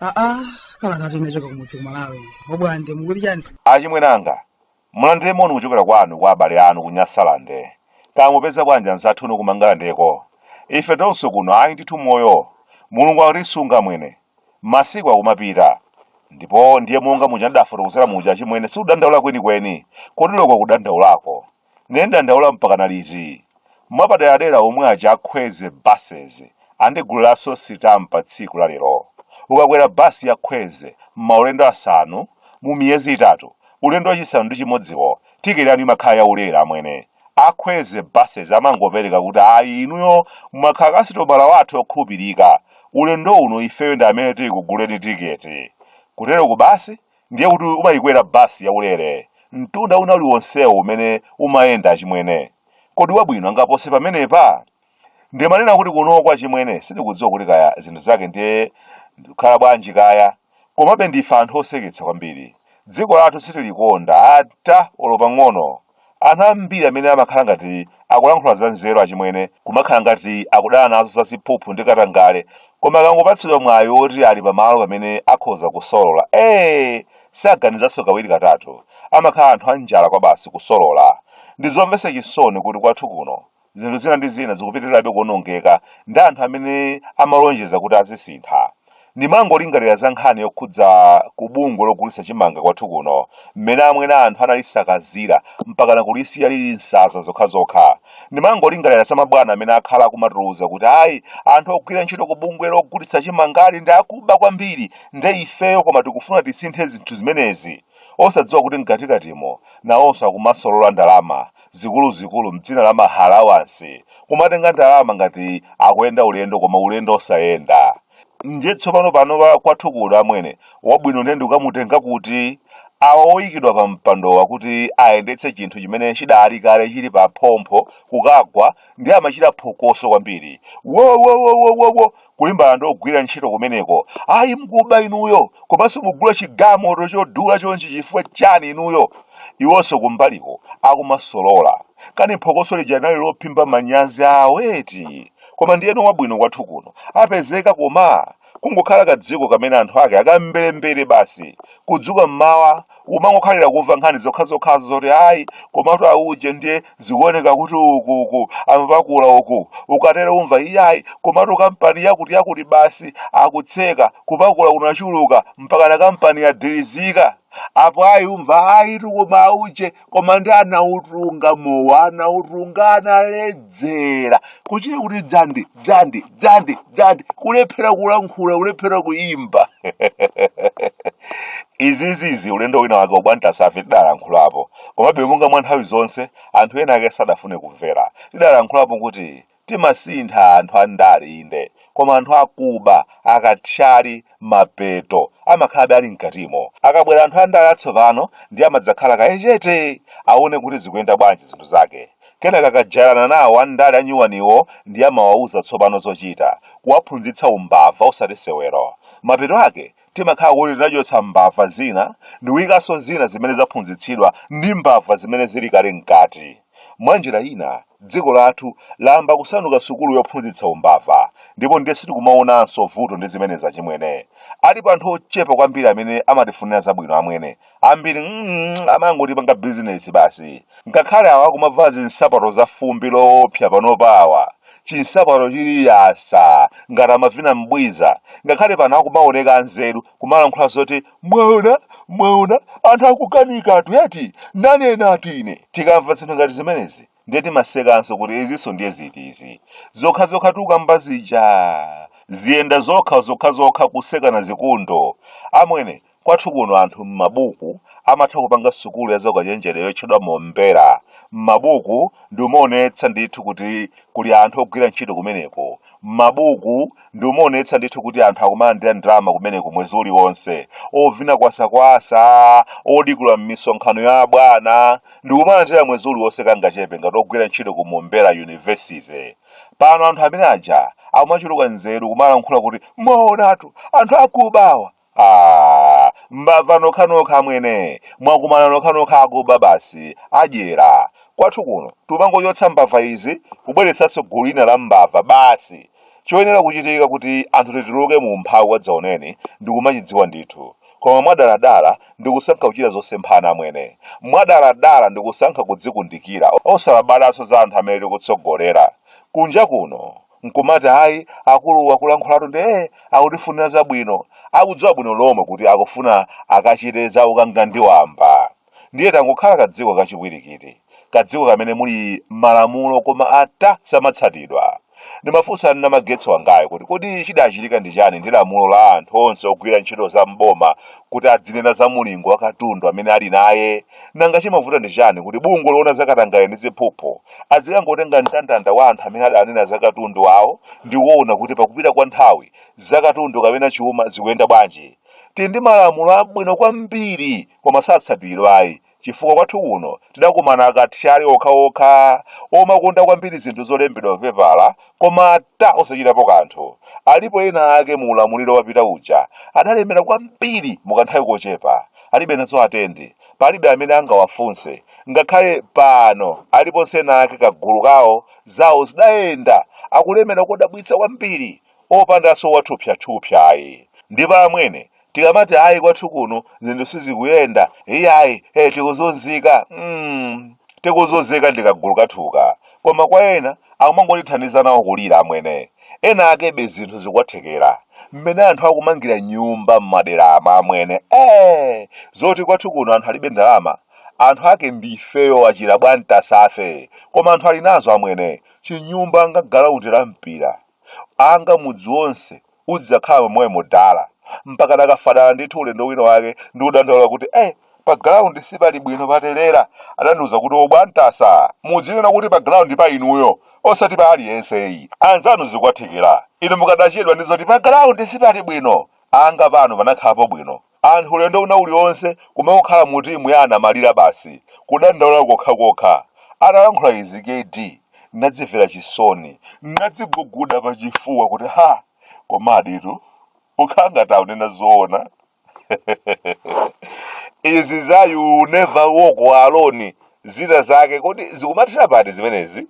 aa kalata tinachoka kumudzi kumalawi obwande mukuli chani achimwenanga Mulandire moni kuchokera kwanu kwa abale anu ku Nyasalande. Kaya mupeza bwanji anzathu unu ku Mangalandeko? Ife tonse kuno ayi ndithu moyo. Mulungu akutisunga amwene. Masiku akumapita. Ndipo ndiye monga muja ndidafotokozera muja achimwene sikudandaula kwenikweni. Kodi loko kudandaulako. Nde ndidandaula mpakana liti? mwapaderadera omwe aja akhweze buses andigulaso sitampa tsiku la lero ukakwera bus ya khweze mmaulendo asanu mu miyezi itatu ulendo wachisanu ndi chimodziwo ticket yanu imakhala ya ulere amwene a khweze buses amangopereka kuti ayi inuyo mwakhala kasitomala wathu okhulupirika ulendo uno ifeyo ndi amene tikuguleni ticket kutero ku basi ndiye kuti umayikwera bus yaulere mtunda una uliwonsewo umene umayenda achimwene kodi wabwino angapose pamenepa ndimanena kuti kuno kwa chimwene sindikudziwa kuti kaya zinthu zake ndiye zikhala bwanji kaya komabe ndife anthu oseketsa kwambiri dziko lathu sitilikonda ata olo pang'ono Anthu ambiri amene amakhala ngati akulankhula zanzeru achimwene kumakhala ngati akudana nazo za ziphuphu ndi katangale, koma akangopatsidwa mwayi woti ali pamalo pamene akhoza kusolola, ee! saganizanso kawiri katatu. Amakhala anthu anjala kwabasi kusolola. Ndizomvetsa chisoni kuti kwathu kuno zinthu zina ndi zina zikupitirirabe kuonongeka ndi anthu amene amalonjeza kuti azisintha ndimangolingalira za nkhani yokhudza ku bungwe logulitsa chimanga kwathu kuno mmene amwene anthu analisakazira mpakana kulisiya lili nsanza zokhazokha ndimangolingalira za mabwana amene akhala akumatiuza kuti ayi anthu ogwira ntchito ku bungwe logulitsa chimangali ndi akuba kwambiri nde ifeyo koma tikufuna tisinthe zinthu zimenezi osadziwa kuti mkatikatimo nawonso akumasolola ndalama zikuluzikulu mdzina la ma halawansi kumatenga ndalama ngati akuyenda ulendo koma ulendo osayenda ndiye tsopano panopa kwathu kuno amwene wabwino ndiye ndikukamtenga kuti awa oyikidwa pa mpandowa kuti ayendetse chinthu chimene chidali kale chili pa phompho kukagwa ndi amachita phokoso kwambiri wowowowowowo kulimbana ndi ogwira ntchito kumeneko ayi mkuba inuyo komanso mugula chigamoto chodula chonchi chifukwa chani inuyo iwonso kumbaliko akumasolola kani phokoso lija linali lophimba manyazi awo eti koma ndiyeno wabwino kwathu kuno apezeka koma kungokhala kadziko kamene anthu ake akamberembere basi kudzuka mmawa umangokhalira kumva nkhani zokhazokhazo zoti ayi komatu auje ndiye zikuoneka kuti uku uku amapakula uku ukatero umva iyayi komatu kampani yakuti yakuti basi akutseka kupakula kunachuluka mpakana kampani yadilizika apo ayi umva ayitu koma auje koma ndi anautunga mowa anautunga analedza dzera kuchita kuti dzandi dzandi dzandi dzandi kulephera kulankhula kulephera kuyimba izizizi ulendo wina wake ubwantasafe tidalankhulapo komabe monga mwa nthawi zonse anthu ena ake sadafune kumvera tidalankhulapo kuti timasintha anthu a ndale inde koma anthu akuba akathyali mapeto amakhalabe ali mkatimo akabwera anthu a ndale atsopano ndiye amadzakhala kaye chete aone kuti zikuyenda bwanji zinthu zake Kenaka akajairana nawo andale anyuwaniwo ndiye amawauza tsopano zochita, kuwaphunzitsa umbava osati sewero. Mapeto ake timakhala kuti tinachotsa mbava zina ndikuikanso zina zimene zaphunzitsidwa ndi mbava zimene zili kale mkati. Mwa njira ina, dziko lathu layamba kusanduka sukulu yophunzitsa umbava, ndipo ndiye sitikumaonanso vuto ndi zimenezi achimwene. Alipo anthu ochepa kwambiri amene amatifunira zabwino amwene. ambiri mm, amangotipanga bizinesi basi ngakhale awa akumavala zinsapato za fumbi loopsa panopa awa chinsapato chili yasa ngati amavina mbwiza ngakhale pano akumaoneka anzeru kumalankhula zoti mwaona mwaona anthu akukanika atu yati nanena atu ine tikamva zinthu ngati zimenezi ndiye timasekanso kuti izinso ndiye ziti izi zokha zokha tukamba zija ziyenda zokha zokha zokha kusekana zikundo amwene Kwathu kuno anthu m'mabuku amatha kupanga sukulu ya zaukachenjede yotchedwa Mombera. M'mabuku ndi umaonetsa ndithu kuti kuli anthu ogwira ntchito kumeneko. M'mabuku ndi umaonetsa ndithu kuti anthu akumalandira ndalama kumeneko mwezi uliwonse. Ovina kwasakwasa, odikula m'misonkhano ya abwana, ndikumalandira mwezi uliwonse kangachepe ngati ogwira ntchito ku Mombera University. Pano anthu amene aja akumachuluka nzeru kumalankhula kuti mwaonatu anthu akuba awa. Aaa mbava nokhanokha amwene mwakumana nokhanokha akuba basi adyera kwathu kuno tumangochotsa mbava izi kubweretsanso gulu lina la mbava basi choyenera kuchitika kuti anthu tituluke mu umphawi wadzaoneni ndikumachidziwa ndithu koma mwadaladala ndikusankha kuchita zosemphana amwene mwadaladala ndikusankha kudzikundikira osalabalanso za anthu amene tikutsogolera kunja kuno nkumati ayi akulu akulankhulatu ndi ee akutifunira zabwino akudziwa bwino lomwe kuti akufuna akachite za ukangandiwamba ndiye tangokhala kadziko kachipwirikiti kadziko kamene muli malamulo koma ata samatsatidwa ndimafunsa nna magetsi wangayo kuti kodi chidachitika ndi chani ndi lamulo la anthu onse ogwira ntchito za mboma kuti adzinena za mulingo wa katundu amene ali naye nanga chimavuta ndi chani kuti bungwe loona za katangale ndi ziphuphu adzikangotenga mndandanda wa anthu amene adanena za katundu awo ndi kuona kuti pakupita kwa nthawi za katundu kapena chuma zikuyenda bwanji tili ndi malamulo abwino kwambiri koma satsatiridwa ayi chifukwa kwathu kuno tidakumana akathyali okhaokha omakonda kwambiri zinthu zolembedwa papepala Koma ata osachitapo kanthu. Alipo ena ake mu ulamuliro wapita uja adalemera kwambiri mu kanthawi kochepa. Alibe nazo atendi. Palibe amene angawafunse. Ngakhale pano aliponso ena ake kagulu kawo zawo zidayenda akulemera kodabwitsa kwambiri opandanso wathupsyathupsya ayi. Ndipo amwene tikamati ayi kwathu kuno zinthu sizikuyenda iyayi eh, tikuzunzika mm, tikuzunzika ndi kagulu kathuka koma kwa ena akumangotithandiza nawo kulira amwene ena akebe zinthu zikuwathekera mmene anthu akumangira nyumba m'maderamu amwene eh, zoti kwathu kuno anthu alibe ndalama anthu ake ndifeyo achina Bwantasafe koma anthu ali nazo amwene chinyumba anga galaundi la mpira anga mudzi wonse Udzidzakhala momwemo Dala mpakana akafa dala ndithu ulendo wina wake ndikudandaula kuti eh pa ground sipali bwino patelera adandiuza kuti obwantasa mudzinena kuti pa ground pa inuyo osati pa aliyense ayi anzanu zikuwathekera inu mukadachedwa ndi zoti pa ground sipali bwino anga pano panakhalapo bwino Anthu ulendo wina ulionse kumakhala mu timu ya anamalira basi, kudandaula kokhakokha. Atalankhula izi KD ndinadzimvera chisoni, ndinadziguguda pa chifuwa kuti ha! Komaditu kukhala ngati akunena zoona. izi za you never walk alone zina zake kodi zikumathera pati zimenezi?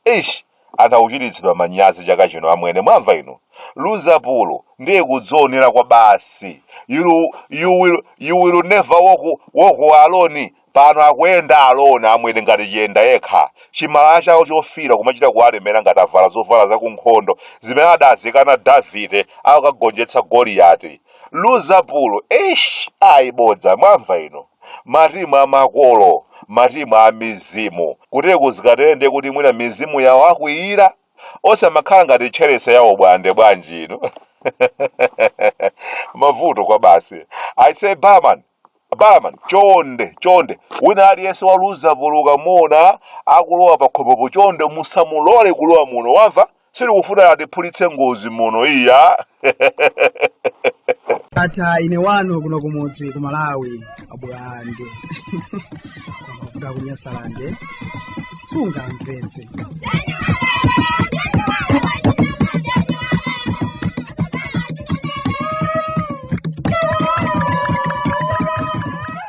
Eish anthu akuchititsidwa manyazi chaka chino amwene mwamva inu? Luzapulu ndiye kudzionera kwabasi you will never walk alone pano akuyenda alone amwene ngati chiyendayekha chimalaya chawo chofiira kumachita kuwalemera ngati avala zovala za kunkhondo zimene adazikana Davide akagonjetsa Goliyati. Luzapulu eish ayi bodza mwamva inu? matimu a makolo, matimu a mizimu. Kuteku zikatere ndiye kuti mwina mizimu yawakwiyira. Osamakhala ngati tcherese ya o Bwande bwanji inu. Mavuto kwa basi. I say barman, barman, chonde, chonde. Wina aliyense wa Luzapulu ukamuona akulowa pakhomopo chonde musamulole kulowa muno wamva? sitikufuna kuti atiphulitse ngozi muno iya ata ine wano kuno kumudzi ku malawi abulande mavuto kunyasalande sungamvetse